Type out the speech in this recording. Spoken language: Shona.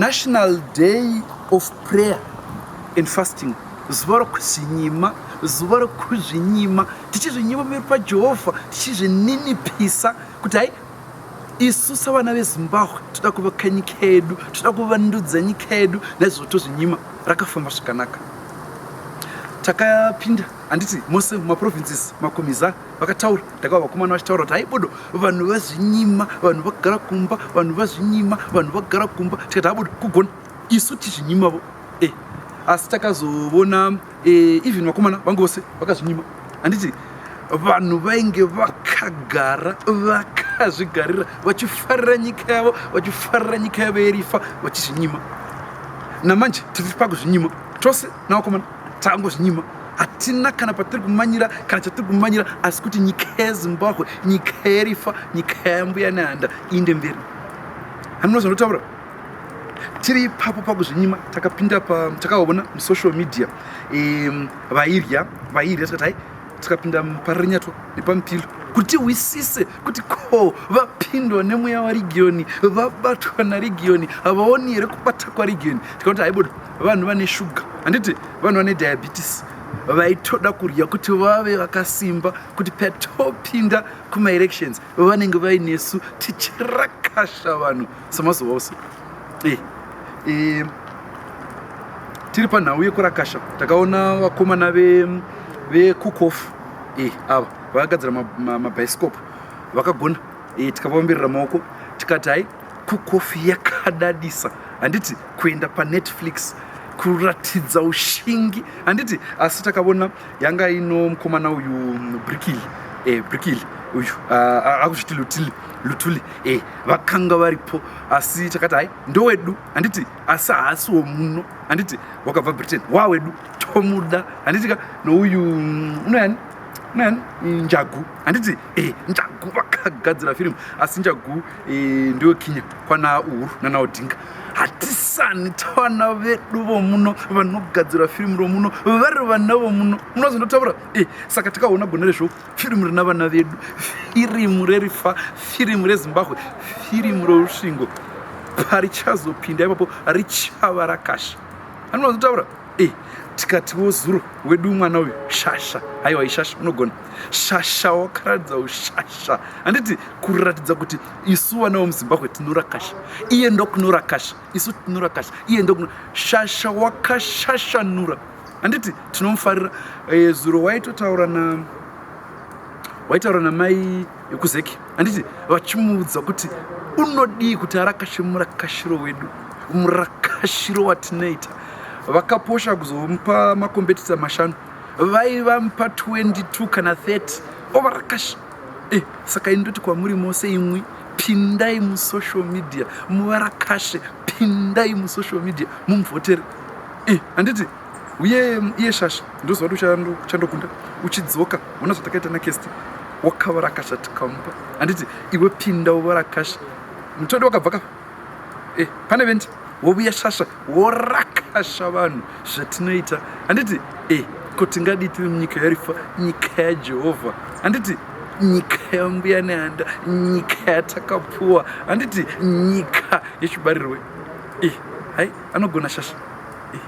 national day of prayer and fasting zuva rokuzvinyima zuva rokuzvinyima tichizvinyima miri pajehovha tichizvininipisa kuti hai isu savana vezimbabwe toda kuvaka nyika yedu toda kuvandudza nyika yedu naizvozvo tozvinyima rakafamba zvakanaka takapinda handiti mose mumaprovinces makomiza vakataura ndakava vakomana vachitaura kuti haibodo vanhu vazvinyima vanhu vagara kumba vanhu vazvinyima vanhu vagara kumba tikati haibodo kugona isu tizvinyimavo e eh, asi takazovona eh, even vakomana vangu vose vakazvinyima handiti vanhu vainge vakagara vakazvigarira vachifarira nyika yavo vachifarira nyika yavo yerifa vachizvinyima namanje tiri pakuzvinyima tose Nawakomana tangozvinyima hatina kana patiri kumanyira kana chatiri kumanyira asi kuti nyika yezimbabwe nyika yerifa nyika yambuya nehanda iinde mberi hanuna zvanotaura tiri ipapo pakuzvinyima takapinda pa takaona musocial media vairya vairya tikati hai tikapinda paririnyato nepamupilo kuti wisise kuti ko vapindwa nemweya waregioni vabatwa naregioni havaoni here kubata kwaregioni tikakuti haibodo vanhu vane shuga handiti vanhu vane diabetes vaitoda kurya kuti vave vakasimba kuti patopinda kumaelections vanenge vainesu tichirakasha vanhu samazuva ose e, e, tiri panhau yekurakasha takaona vakomana vekukof ve e, ava vakagadzira mabhaisikopo ma, ma vakagona e, tikavavambirira maoko tikati hai Kukofi yakadadisa handiti kuenda panetflix kuratidza ushingi handiti asi takavona yanga ino mukomana uyu mm, brikili e, eh, brikili uyu uh, ah, ah, akuzviti lutili lutuli e, vakanga varipo asi takati hai ndowedu handiti asi haasi womuno handiti wakabva britain wawedu tomuda handitika nouyu mm, unoyani unoyani njagu handiti Eh, njagu vakagadzira firimu asi njagu eh, ndiyo kinya kwana uhuru nanaodhinga hatisani tavana vedu vomuno vanogadzira firimu romuno vari vana vomuno munozondotaura e eh, saka takaona gona rezvo firimu rina vana vedu firimu rerifa firimu rezimbabwe firimu rorusvingo parichazopinda ipapo richava rakasha anozondotaura Eh, tikatiwo zuro wedu mwana uyu shasha haiwa ishasha unogona shasha wakaratidza ushasha handiti kuratidza kuti isu vana vemuzimbabwe tinorakasha iye ndokunorakasha isu tinorakasha iye ndokuno shasha wakashashanura handiti tinomufarira e, zuro waitotaura na waitaura namai yekuzeki handiti vachimuudza kuti unodii kuti arakashe murakashiro wedu murakashiro watinoita vakaposha kuzomupa makombetisa mashanu vaivamupa 22 kana 30 ovarakashi eh, saka ini ndoti kwamuri mose imwi pindai musocial media muvarakashe pindai musocial media mumvotere eh, handiti uye iye shasha ndoziva kuti uchandokunda uchidzoka ona zvatakaita nakesti wakavara kasha tikamupa handiti iwe pinda uvara kasha mutodi wakabva ka e eh, pane vendi wovuya shasha worakasha vanhu zvatinoita handiti e eh, ko tingadii tiri munyika yarifa nyika yajehovha handiti nyika yambuya nehanda nyika yatakapuwa handiti nyika yechibarirwe e eh, hai anogona shasha